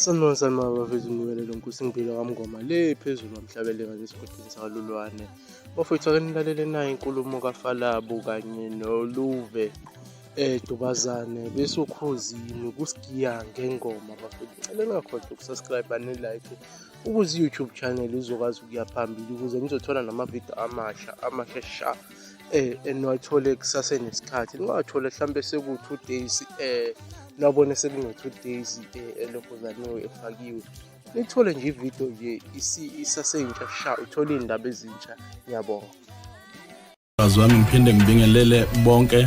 Sanibona sanibona bafethu nikelelo nkosi ngibile kamngoma le phezulu wamhlabeleka nesigodini sakalulwane bafethu ake nilalele nayo inkulumo kafalabu kanye noluve eh dubazane bese ukhozini kusigiya ngengoma bafethu ngicela ningakhohlwa ukusubscribe ne-like ukuze i-youtube channel izokwazi ukuya phambili ukuze nizothola namavidiyo amasha amasha sha eh eniwathole kusasenesikhathi niwathole mhlawumbe seku-two days eh nabone sekungo-two days eh elokhozaniwe efakiwe nithole nje ividiyo nje isaseyintsha sha uthole iy'ndaba ezintsha ngiyabonga bazi wami ngiphinde ngibingelele bonke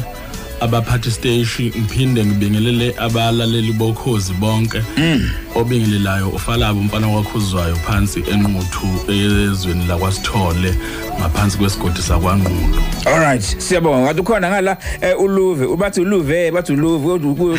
abaphathi steshi ngiphinde ngibingelele abalaleli bokhozi bonke mm. obingelelayo ufalabo umfana wakhuzwayo phansi enquthu ezweni lakwasithole ngaphansi kwesigodi sakwangqulu alright siyabonga ngathi ukhona ngala eh, uluve ubathi uluve bathi uluve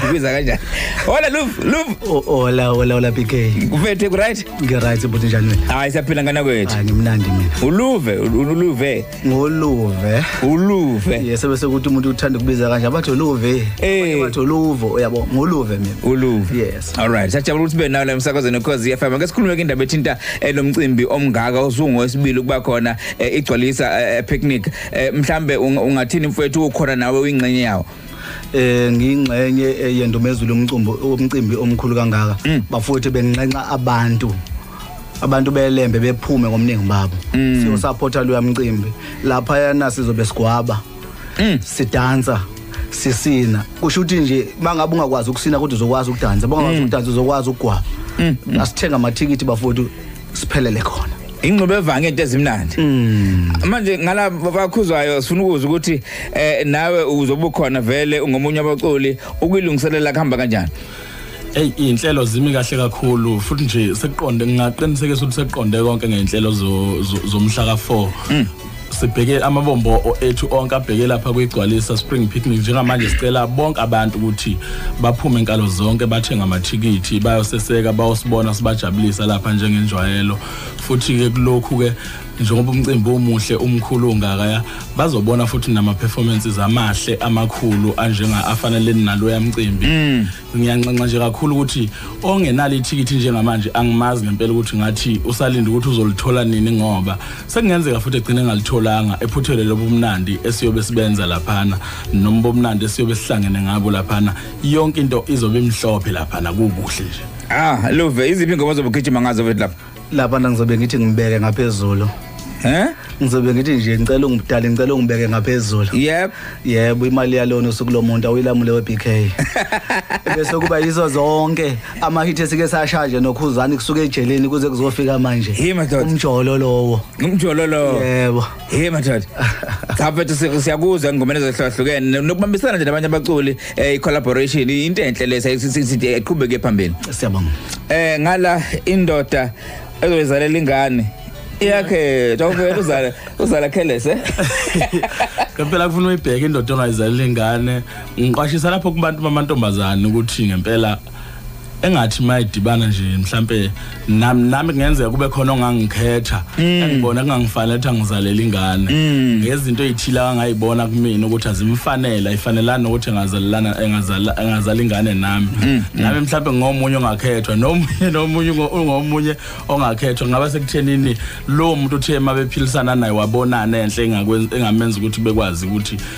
ubiza kanjani hola luve luve hola hola hola bk kuphethe ku right ngi right bhuti njani wena hayi siyaphila ngana kwethu hayi ngimnandi mina uluve uluve ngoluve uluve yes bese ukuthi umuntu uthanda ukubiza kanje abathi uluve Eh. abathi uluvo uyabo ngoluve mina uluve Yes. all right sajabula ukuthi benawo la emsakazweni cause FM ake sikhulume ke indaba ethinta eh, lo mcimbi omngaka osungu wesibili kuba khona eh, igcwalisa eh, eh, picnic Eh, mhlambe unga- ungathini mfowethu ukhona nawe uyingxenye yawo eh ngingxenye eh, yendumezulu umcimbi umcimbi omkhulu kangaka bafowethu benginxenxa abantu abantu belembe bephume ngomningi babo mm. siyosupporta loya mcimbi lapha yana sizobe sigwaba mm. sidansa sisina kusho ukuthi nje mangabe ungakwazi ukusina kodwa uzokwazi ukudansa bangakwazi mm. ukudansa uzokwazi ukugwaba mm. mm. asithenga amathikithi bafowethu siphelele khona ingxube evange into ezimnandi mm. manje ngala bakhuzwayo sifuna ukuza ukuthi eh nawe uzobukhona vele ungomunye abaculi ukuyilungiselela kuhamba kanjani Ey inhlelo zimi kahle kakhulu futhi nje sekuqonde ngingaqinisekisa ukuthi sekuqonde konke ngeinhlelo zomhla ka4 hmm. sibheke amabombo ethu onke abheke lapha kwigcwalisa spring picnic njengamanje sicela bonke abantu ukuthi baphume inkalo zonke bathenga amathikithi bayoseseka bayosibona sibajabulisa lapha njengenjwayelo futhi ke kulokhu ke njengoba umcimbi omuhle umkhulu ongakaya bazobona futhi nama performances amahle amakhulu anjenga afanele nalo yamcimbi mm. ngiyanxenxa nje kakhulu ukuthi ongenalo ithikithi njengamanje angimazi ngempela ukuthi ngathi usalinde ukuthi uzolithola nini ngoba sekungenzeka futhi egcine ngalitholanga ephuthelwe lobumnandi esiyobe sibenza laphana noma bomnandi esiyobe sihlangene ngabo laphana yonke into izobe imhlophe laphana kukuhle nje ah love iziphi ngoba zobugijima ngazo lapha lapha ngizobe ngithi ngibeke ngaphezulu Eh? Ngizobe ngithi nje ngicela ungidale ngicela ungibeke ngaphezulu. Yep. Yebo imali yalona usuku lomuntu awilamule weBK. Bese kuba yizo zonke ama hit esike sashaje nokhuzani kusuke ejeleni kuze kuzofika manje. Umjolo lowo. Umjolo lowo. Yebo. Hey madoda. Cha mfethu si- siyakuzwa engomeni ezehlukahlukene nokubambisana nje nabanye abaculi eh collaboration into enhle lesa iqhubeke phambili. Siyabonga. Eh ngala indoda ezoyizalela ingane yakhe tawuvela uzala uzala careless eh. Ngempela kufuna uyibheke indoda ongayizalela ingane. Ngiqwashisa lapho kubantu bamantombazane ukuthi ngempela engathi mayidibana nje mhlambe nami nami kungenzeka kube khona ongangikhetha mm. engibona kungangifanele ukuthi angizalele ingane mm. ngezinto ezithile angayibona kumina ukuthi azimfanele ifanelana ukuthi engazalelana engazala engazala ingane nami mm. nami mhlambe ngomunye ongakhethwa nomunye nomunye ungomunye ongakhethwa ngaba sekuthenini lo muntu uthe mabephilisana naye wabonana enhle engamenza ukuthi bekwazi ukuthi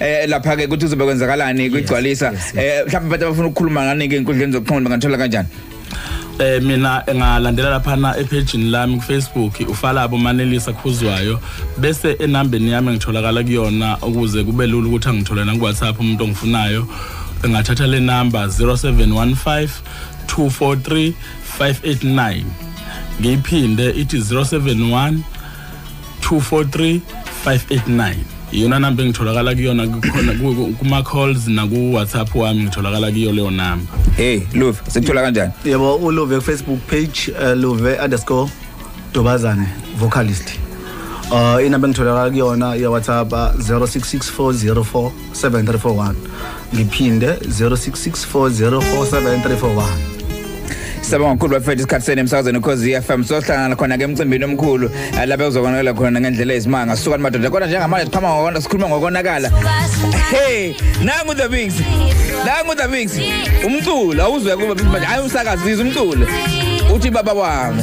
eh lapha ke ukuthi uzobe kwenzakalani kwigcwalisa eh mhlawumbe abantu abafuna ukukhuluma ngani ke inkundleni zokuxhumana bangathola kanjani eh mina ngalandela lapha na epage lami ku Facebook ufalabo manelisa khuzwayo bese enambeni yami ngitholakala kuyona ukuze kube lula ukuthi angithole na ku WhatsApp umuntu ongifunayo ngathatha le number 0715 243 589 ngiyiphinde ithi 071 243 589 iyona namba engitholakala kuyona kukhona kuma-calls naku-whatsapp wami ngitholakala kuyo leyo namba hey luve sikuthola kanjani yebo uluve kufacebook page uh, luve underscore dobazane vocalist uh, inamba engitholakala kuyona iya-whatsapp 066404 7341 ngiphinde 0664047341 Siyabonga kakhulu bafethu isikhathi senu emsakazweni ukhozi FM sohlangana khona ke emcimbini omkhulu eh, lapha uzobonakala khona ngendlela ezimanga suka madoda kodwa njengamanje siqhama ngokona sikhuluma ngokonakala hey nangu the mix nangu the mix umculo awuzwe kuba manje hayi umsakazi umculo uthi baba wami